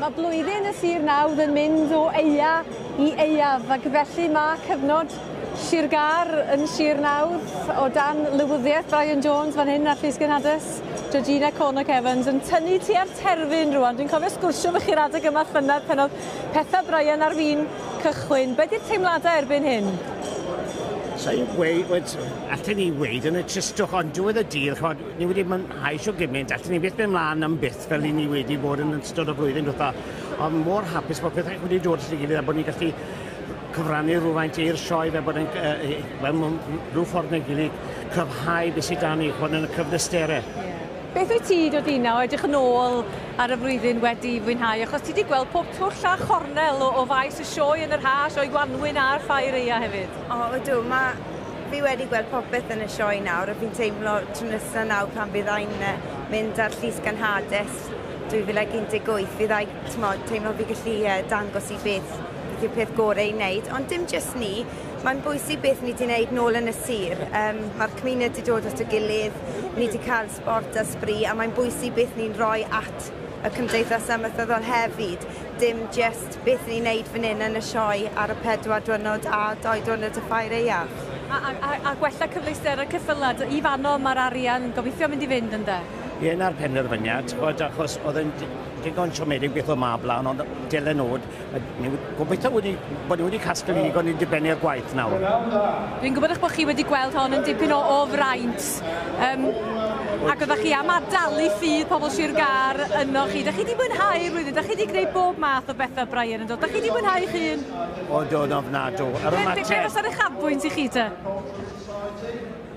Mae blwyddyn y Sir Nawdd yn mynd o eia i eiaf ac felly mae cyfnod Sir Gar yn Sir Nawdd o dan lywyddiaeth Brian Jones fan hyn ar Llys Genadus, Georgina Cornock Evans yn tynnu tua'r terfyn rwan. Dwi'n cofio sgwrsio fy chi'r adeg yma llynedd pan oedd pethau Brian ar fin Cychwyn, be di'r teimladau erbyn hyn? Sa i'n gweud, wel, allan ni weid yn y tristwch, ond diwedd y dydd, chod, ni wedi mwynhau sio gymaint, allan ni beth mynd mlaen am byth fel i ni wedi bod yn ystod o flwyddyn dwetha, ond mor hapus bod pethau wedi dod at ei gilydd a bod ni'n gallu cyfrannu rhywfaint i'r sioe fel bod yn, uh, fel rhyw ffordd neu gilydd, cryfhau beth sydd dan ni, bod yn y cyflystere. Yeah. Beth wyt ti 'di dod nawr, edrych yn ôl ar y flwyddyn wedi fwynhau, achos ti 'di gweld pob twll a chornel o, o faes y sioe yn yr ha, sioe Gwanwyn a'r Ffair Eia hefyd? O, ydw, mae... fi wedi gweld popeth yn y sioe nawr, a fi'n teimlo tro nesaf nawr pan bydd ein uh, mynd ar Llys Ganhades 2018, fydd ai, teimlo fi gallu uh, dangos i beth beth yw'r peth gorau i wneud, ond dim jyst ni, Mae'n bwysig beth ni 'di wneud nôl yn y sir. Um, Mae'r cymuned wedi dod at y gilydd, ni wedi cael sport a sbri, a mae'n bwysig beth ni'n rhoi at y cymdeithas amaethyddol hefyd. Dim just beth ni'n wneud fan hyn yn y sioe ar y pedwar dwrnod a dau dwrnod y ffair eiaf. A, a, a, a gwella cyfleuster y cyffylad. I fanno mae'r arian gobeithio mynd i fynd ynddo? Ie, na'r penderfyniad, bod achos oedd yn digon siomedig beth oedd ma blaen, ond dylen nhw'n Gobeithio wedi, bod ni wedi casglu ddigon i dibennu'r gwaith nawr. Dwi'n gwybod eich bod chi wedi gweld hon yn dipyn o, o fraint. Um, ac oeddech chi am adalu ffydd pobl Sir Gar yno chi. Da chi wedi mwynhau rwy'n Da chi wedi gwneud bob math o bethau, Brian, yn dod. Da chi wedi mwynhau chi yn... O, do, yn ofnadw. Yr ymateb... Beth ar eich afbwynt i chi, te?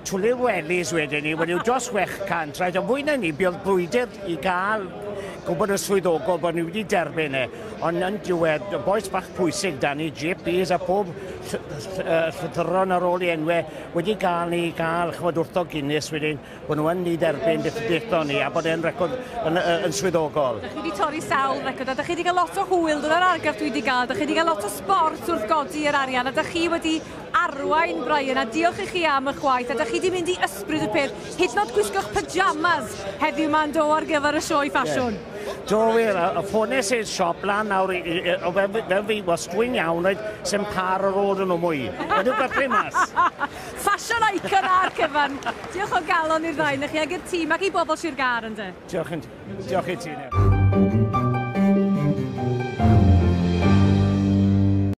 Twlir wellies wedyn ni wedi dros 600 traed ond fwy na ni buodd brwydr i gael gwybod y swyddogol bod ni wedi derbyn e ond yn diwedd y boes bach pwysig dan ni GPs a pob llythyron ar ôl i enwe wedi gael ni gael chymod wrtho Guinness wedyn bod nhw yn ni dderbyn beth ydetho ni a bod e'n record yn, yn, yn swyddogol. Da chi wedi torri sawl record a da chi wedi cael lot o hwyl dyna'r argraff dwi wedi gael da chi wedi cael lot o sport wrth godi yr arian a da chi wedi arwain Brian a diolch i chi am eich waith a da chi di mynd i ysbryd y peth hyd yn oed gwisgo'ch pyjamas heddiw ma'n do ar gyfer y sioe ffasiwn. Yes. Do wir, y ffones i'r siop lan nawr i, i, i, o fe, fe fi was dwi'n iawn oedd sy'n par o rôd yn o mwy. Ydw bethau mas. Ffasiwn icon ar cyfan. Diolch o galon i'r ddain i chi ag i'r tîm ac i bobl Sir Gar ynddo. Diolch, yn, diolch i ti. Neb.